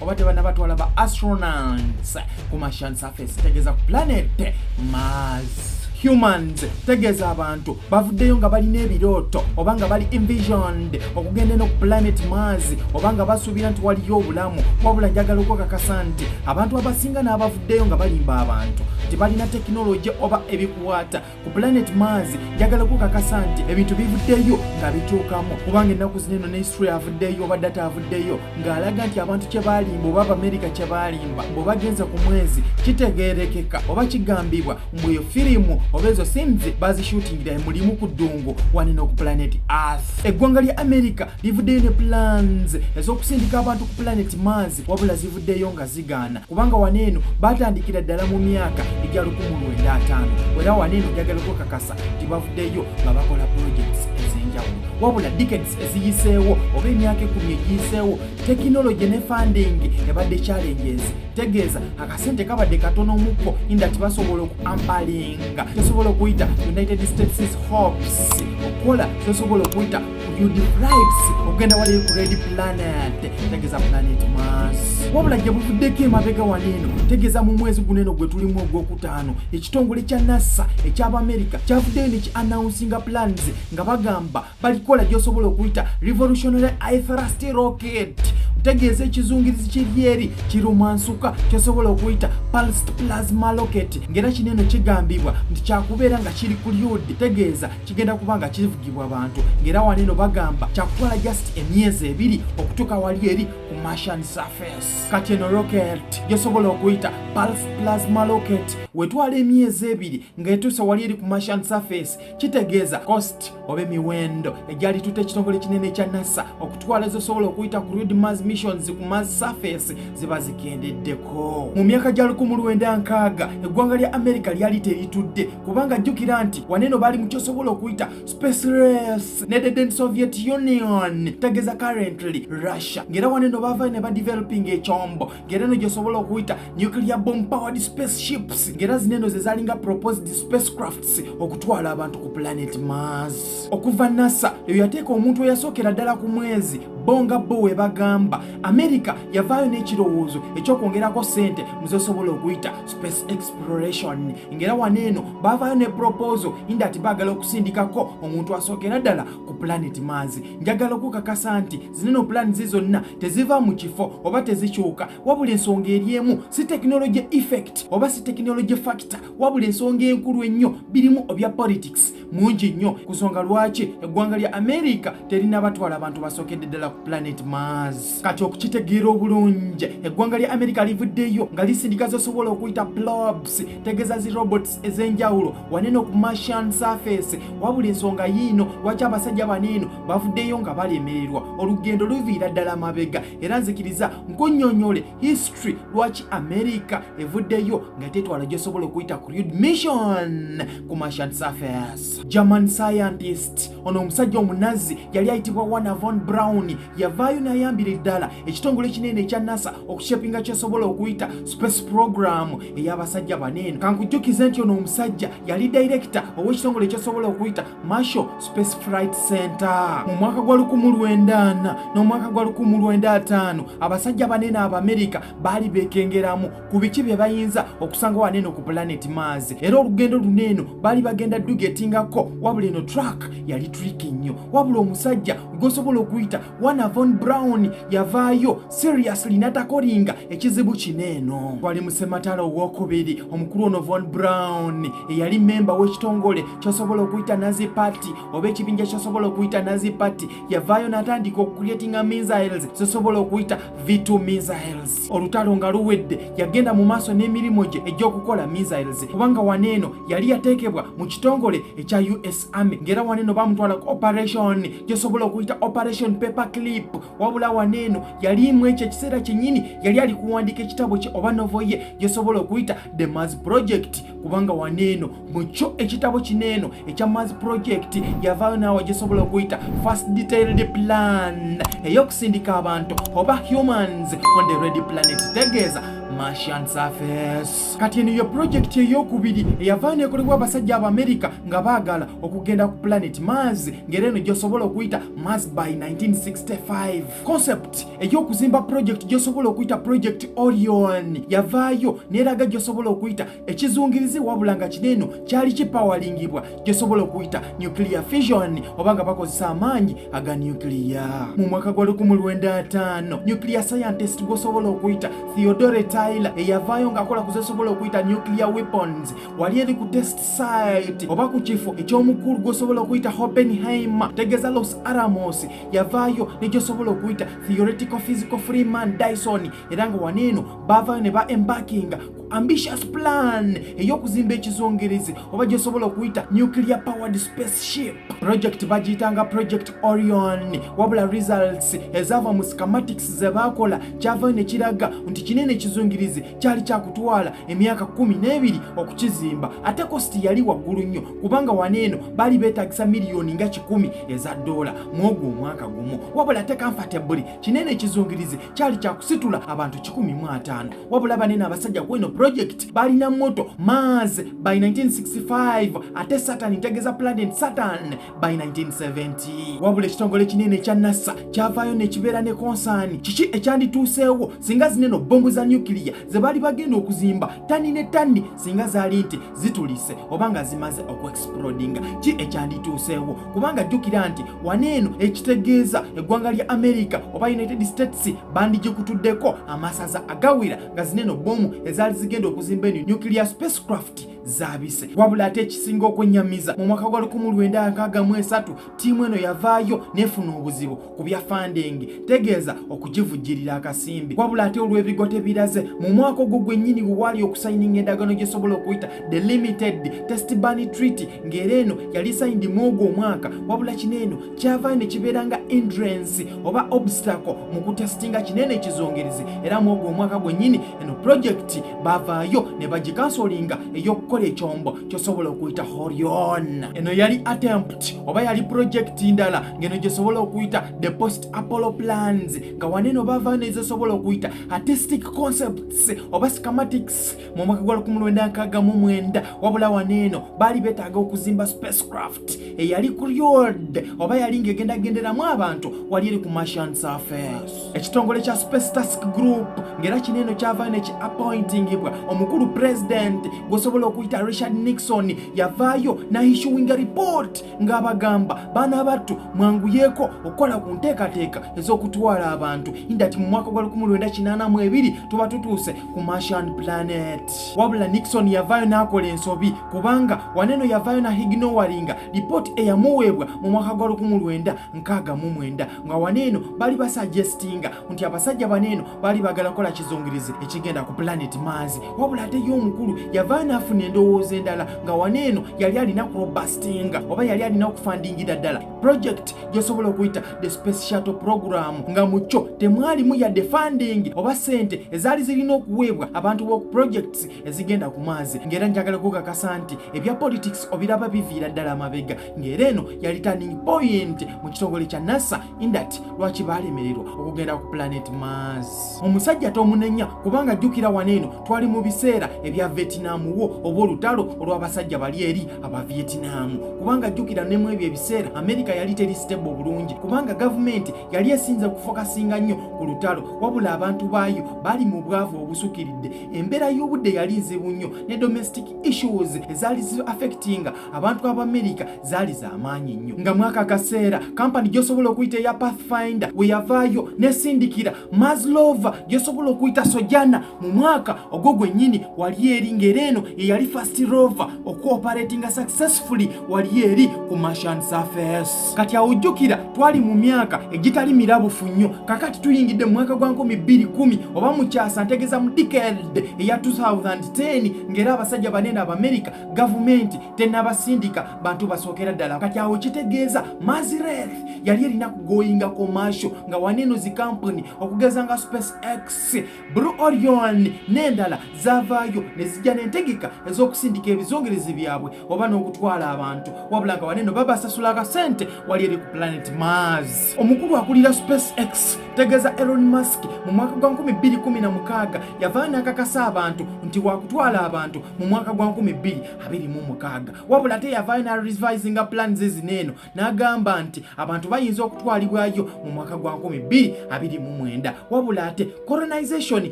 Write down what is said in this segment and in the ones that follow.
oba tebana batwala ba astronauts ku martian surface tegeza ku planet mars humans tegeeza abantu bavuddeyo nga balina ebirooto oba nga bali envisioned okugenda eno ku planet mars oba nga basuubira nti waliyo obulamu wabula njagala okwekakasa nti abantu abasinga n'abavuddeyo nga balimba abantu tebalina tekinologi oba ebikwata ku planet mars njagala kukakasa nti ebintu bivuddeyo nga bituukamu kubanga ennaku zino eno ne history avuddeyo oba data avuddeyo ng'alaga nti abantu kye baalimba oba abamerika kye baalimba bwebagenze ku mwezi kitegeerekeka oba kigambibwa mbu eyo firimu oba ezo sims bazishutingira emulimu ku ddungu wanino ku planet earth eggwanga lya amerika livuddeyo ne plans ez'okusindika abantu ku planet mars wabula zivuddeyo nga zigaana kubanga wano eno baatandikira ddala mu myaka egya lukumu lwenda ataano era wano eno njagala okwekakasa nti bavuddeyo nga bakola projects ez'enjawulo wabula decades eziyiseewo oba emyaka ekumi egiyiseewo tekinologi ne funding ebadde challenges tegeeza akasente kabadde katono omukko inda tibasobola okuampalinga tesobola okuyita united states hopes okukola tesobola okuyita you deprives okugenda waliyo ku red planet tegeza planet mars wabula gye buvuddeko emabega wano eno tegeza mu mwezi guno eno gwe tulimu ogwokutaano ekitongole kya nasa ekyabamerica kyavuddeyo ne ki announcinga plans nga bagamba balikola gyosobola okuyita revolutionary ithrust rocket tegeeza ekizungirizi kiryeri kirumansuka kyosobola okuyita pulsed plasma locket ng'era kino eno kigambibwa nti kyakubeera nga kiri ku lyod tegeeza kigenda kuba nga kivugibwa bantu ng'era wano eno bagamba kyakukola just emyezi ebiri okutuuka wali eri ku martian surface kati eno rocket gyosobola okuyita pulse plasma rocket wetwala emyezi ebiri ng'etuuse wali eri ku martian surface kitegeeza cost oba emiwendo egyali tuta ekitongole kinene ekya nasa twala zosobola okuyita ku read mars missions ku mars surface ziba zikendeddeko mu myaka gya 19 eggwanga lya america lyali teritudde kubanga jjukira nti waneno baali mukyosobola okuyita space race nededen soviet union tegeza currently russia ng'era waneno bavayo ne badeveloping ekyombo ngera eno gyosobola okuyita nuclear bomb powered spaceships ngera zino eno zezalinga proposed spacecrafts okutwala abantu ku planet mars okuva nasa eyo yateeka omuntu eyasookera ddala ku mwezi bo nga bo we bagamba amerika yavaayo n'ekirowoozo ekyokwongerako sente muzesobola okuyita space exploration ngera wano eno bavaayo ne proposal indati baagala okusindikako omuntu asookera ddala ku planet mars njagala okukakasa nti zineno pulaani ze zonna teziva mu kifo oba tezikyuka wabula ensonga eri emu si tekinologi effect oba si tekinologi factor wabula ensonga enkulu ennyo birimu obya politics mungi nnyo ku nsonga lwaki eggwanga lya amerika terina batwala abantu basookedde ddala ku planet mars kati okukitegeera obulungi eggwanga lya amerika livuddeyo nga lisindika zosobola okuyita plobs tegeza zi robots ez'enjawulo waneno ku martian surface wabula ensonga yiino lwaki abasajja baneeno bavuddeyo nga balemererwa olugendo luviira ddala mabega era nzikiriza nkunyonyole history lwaki america evuddeyo nga tetwala gyosobola okuyita ku read mission ku martian surface german scientist ono omusajja omunazi yali ayitibwa wana von brown yavaayo n'ayambira eddala ekitongole ekinene ekya nasa okushepinga kyesobola okuyita space program ey'abasajja baneeno kankujjukize nti ono omusajja yali dayirekita ow'ekitongole ekyesobola okuyita marshal space flight center mu mwaka gwa 1994 n'omwaka gwa 1995 abasajja baneeno abamerika baali beekengeramu ku biki bye bayinza okusanga wano eno ku pulaneti maazi era olugendo luno eno baali bagenda dduga etingako wabula eno trak yali triki nnyo wabula omusajja gwosobola okuyita wana von brown yavaayo seriously natakolinga ekizibu kino eno wali musematala owokubiri omukulu ono von brown eyali memba w'ekitongole kyosobola okuyita nazi party oba ekibinja kyosobola okuyita nazi party yavaayo natandika okucreatinga missiles zosobola okuyita v2 missiles olutalo nga luwedde yagenda mu maaso n'emirimu gye egy'okukola missiles kubanga wano eno yali yateekebwa mu kitongole ekya us army ng'era wano eno bamutwala ku operation gyesobola okuyita operation paper clip wabula wano eno yaliimu ekyo ekiseera kyennyini yali ali kuwandiika ekitabo kye oba novo ye gyesobola okuyita the mas project kubanga waneeno mu kyo ekitabo kino eno ekya mars project yavaayo naawe gisobola okuyita first detailed plan ey'okusindika abantu oba humans on the red planet tegeeza martian surface kati eno ye projekiti ey'okubiri eyavaayo neekolebwa abasajja aba amerika nga baagala okugenda ku planet mars ng'era eno gyosobola okuyita mars by 1965 concept ey'okuzimba pulojekiti gyosobola okuyita pulojekiti orion yavaayo neraga gyosobola okuyita ekizungirizi wabula nga kino eno kyali kipawalingibwa gyosobola okuyita nuclear fission oba nga bakozesa amaanyi aga nuclear mu mwaka gwa 15 nuclear scientist gwosobola okuyita theodore tyler eyavaayo ng'akola kuzesobola okuyita nuclear weapons wali eri ku test site oba ku kifo eky'omukulu gwosobola okuyita hopenheimer tegeza los aramos yavaayo negyosobola okuyita theoretical physical free man dyson era nga wano eno baavaayo ne ba embarkinga ku ambitious plan ey'okuzimba ekizongerezi oba gyosobola okuyita nuclear powered spaceship project bagiyitanga project orion wabula results ezaava mu scamatics ze baakola kyavaayo ne kiraga nti kinene ekizungirizi kyali kyakutwala emyaka kumi n'ebiri okukizimba ate kositi yali waggulu nnyo kubanga wano eno bali betagisa miliyoni nga kikumi eza doola mwogwo omwaka gumu wabula ate kamfatabuli kinene ekizungirizi kyali kyakusitula abantu kikumi mu ataano wabula banene abasajja kweno projekiti balina moto mars by 1965 ate satan ntegeza planet satan by 1970 wabula ekitongole kinene ekya nasa kyavaayo nekibeera ne konsaani kiki ekyandituuseewo singa zineno bomu za nukiliya ze baali bagenda okuzimba tani ne tani singa zaali nti zitulise oba nga zimaze okuexplodinga ki ekyandituuseewo kubanga jjukira nti wana eno ekitegeeza eggwanga lya amerika oba united states bandigikutuddeko amasaza agawera nga zineeno bomu ezaali zigenda okuzimba eno nuclear spacecraft zabise wabula ate ekisinga okwenyamiza mu mwaka gwa 1963 tiimu eno yavaayo nefuna obuzibu ku bya fandingi tegeeza okugivujjirira akasimbi wabula ate olw'ebigo tebiraze mu mwaka ogwo gwennyini we waali okusayininga endagaano gyesobola okuyita the limited test bani treaty ng'era eno yali sayindi mu ogwo omwaka wabula kino eno kyavaayo ne kibeera nga indrance oba obstacle mu kutesitinga kinene ekizongerezi era mu ogwo omwaka gwennyini eno pulojekiti bavaayo ne bagikansolinga ey'okukola ekyombo kyosobola okuyita horion eno yali attempt oba yali projekiti ndala ngeno gyesobola okuyita the post apollo plans nga waneno bava nezesobola okuyita artistic concepts oba scamatics mu mwaka gwa 1969 wabula waneeno baali betaaga okuzimba spacecraft eyali ku ryod oba yali ngaegendagenderamu abantu wali eri ku martian surface ekitongole kya space task group ng'era kino eno kyavaayo ne ki appointingibwa omukulu pulezidenti gwosobola okuyita richard nixon yavaayo nahishuwinga report ng'abagamba baana battu mwanguyeeko okukola ku nteekateeka ez'okutwala abantu indati mu mwaka gwa 1982 tuba tutuuse ku martian planet wabula nixon yavaayo n'akola ensobi kubanga waneno yavaayo na hignowaringa lipooti eyamuweebwa mu mwaka gwa 19 nkaga mu mwenda nga wano eno bali basuggestinga nti abasajja bano eno bali bagala kola kizungirizi ekigenda ku planet maazi wabula ate ye omukulu yava naafuna endowooza endala nga wano eno yali alina kurobastinga oba yali alina okufandingira ddala project gyosobola okuyita the space shuttle program nga mu kyo temwalimu yadde funding oba sente ezaali zirina okuweebwa abantu b'oku projects ezigenda ku maazi ng'era njagala kukakasa nti ebya politics obiraba biviira ddala amabega ng'era eno yali turning point mu kitongole kya nasa indat lwaki baalemererwa okugenda ku planet mars omusajja tomunenya kubanga jjukira wano eno twali mu biseera ebya vietinamu wo oba olutalo olw'abasajja bali eri aba vietinamu kubanga jjukira ne mu ebyo ebiseera amerika yali teri stable bulungi kubanga gavumenti yali esinze kufokasinga nnyo ku lutalo wabula abantu baayo bali mu bwavu obusukiridde embeera y'obudde yali nzibu nnyo ne domestic issues ezaali zi affectinga abantu abamerica zaali zamaanyi nnyo nga mwaka akaseera kampani gyosobola okuyita eya pathfinder weyavaayo nesindikira maslova gyosobola okuyita sojana mu mwaka ogwo gwennyini wali eri ngaera eno eyali fast rover okuoperatinga successfully wali eri ku martian surface kati awujjukira twali mu myaka egitali mirabufu nnyo kakati tuyingidde mu mwaka gwa 210 oba mukyasa ntegeza mu dicade eya 2010 ngaera abasajja banene abamerica gavumenti tenabasindika bantu basookera ddala kati awo kitegeeza mazirer yali erina kugoyinga komasho nga waneeno zikampuni okugeza nga space x bru orion n'endala zavaayo ne zijja n'entegeka ez'okusindika ebizongerezi byabwe oba n'okutwala abantu wabula nga waneeno babasasula akasente wali eri ku planet mars omukulu akulira space x tegeeza elon mask mu mwaka gwa 216 yavaa n'akakasa abantu nti wakutwala abantu mu mwaka gwa 2026 wabula ate yavaayo na revisinga plan zezino eno n'agamba nti abantu bayinza okutwalibwayo mu mwaka gwa 2029 wabula ate colonization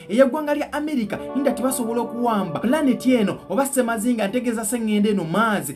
ey'eggwanga lya america inda tebasobola okuwamba planeti eno oba semazinga ntegeeza seŋŋenda eno maazi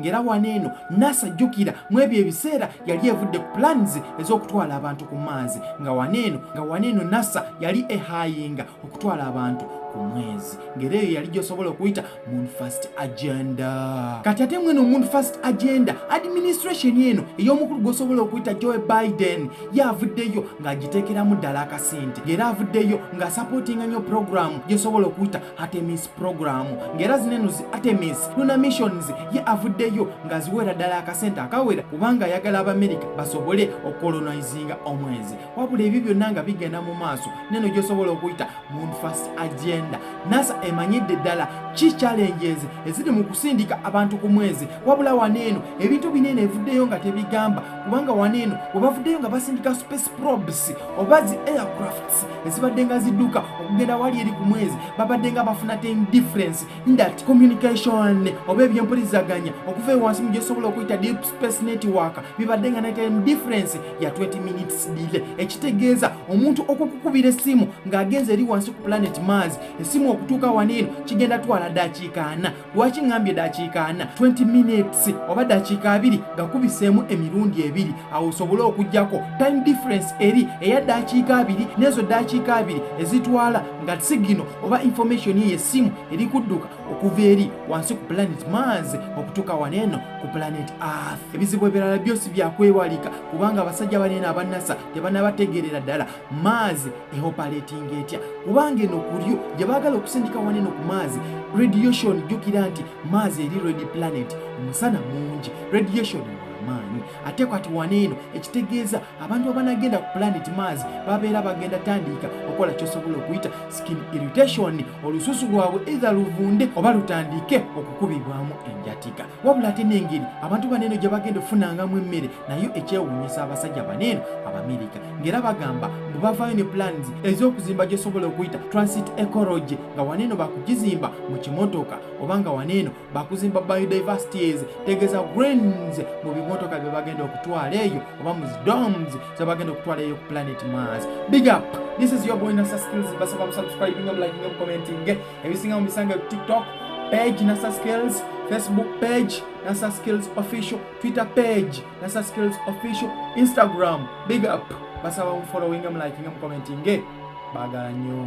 ng'era wano eno nasa jjukira mu ebyo ebiseera yali evudde ku plans ez'okutwala abantu ku maazi nga wano eno nga wano eno nasa yali ehayinga okutwala abantu ku mwezi ng'era eyo yali gyosobola okuyita moon first agenda kati ate mweno moon first agenda administration eno ey'omukulu gwosobola okuyita joe biden ye avuddeyo ng'agiteekeramu ddala akasente ng'era avuddeyo ng'asapootinga nnyo puroguramu gyesobola okuyita Artemis program ng'era zino eno zi Artemis Luna missions ye avuddeyo ng'aziweera ddala akasente akawera kubanga ayagala Abamerika basobole okolonizinga omwezi wabula ebyo byonna nga bigenda mu maaso neno gyosobola okuyita moon first agenda nasa emanyidde ddala ki challenges eziri mu kusindika abantu ku mwezi wabula wano eno ebintu binene evuddeyo nga tebigamba kubanga wano eno webavuddeyo nga basindika space probes oba zi aircraft ezibadde nga zidduka okugenda wali eri ku mwezi babadde nga bafuna ten difference that communication oba ebyempulizaganya okuva ewansi mu gyesobola okuyita deep space network bibadde nga naten difference ya 20 minutes dile ekitegeeza omuntu okukukubira essimu ng'agenze eri wansi ku planet mars essimu okutuuka wano eno kigenda twala dakiika ana lwaki ŋŋambye ddakiika ana 20 minutes oba ddakiika abiri gakubiseemu emirundi ebiri awo osobole okugyako time difference eri eya ddakiika abiri n'ezo ddakiika abiri ezitwala nga sigino oba information ye essimu eri kudduka okuva eri wansi ku planet mars okutuuka wano eno ku planet earth ebizibu ebirala byosi byakwewalika kubanga abasajja baneeno abannasa tebanabategeerera ddala maazi ehopaletinga etya kubanga eno kulyo gye baagala okusindika waneno ku maazi radiation jjukira nti maazi eri red planet omusana mungi radiation amaanyi ate kwati wana eno ekitegeeza abantu abanagenda ku planet maazi babeera bagenda tandiika okola kyosobola okuyita skin irritation olususu lwabwe eitha luvunde oba lutandiike okukubibwamu enjatika wabula ate n'engeri abantu bano eno gye bagenda okufunangamu emmere nayo ekyewuunyisa abasajja bano eno abamerika ng'era bagamba mbu bavaayo ne plans ez'okuzimba gyesobola okuyita transit ecology nga wano eno bakugizimba mu kimotoka oba nga wano eno bakuzimba biodiversities tegeza grains mu bimotoka bye bagenda okutwala eyo oba mu zidoms ze bagenda okutwala eyo ku planet mars big up this is your boy nasa skills basaba musubscribinga mulaginga mukomentinge ebisinga mu bisange tiktok page nasa skills facebook page nasa skills official twitter page nasa skills official instagram big up basaba mufollowinge mulakinge mukomentinge bagala nnyo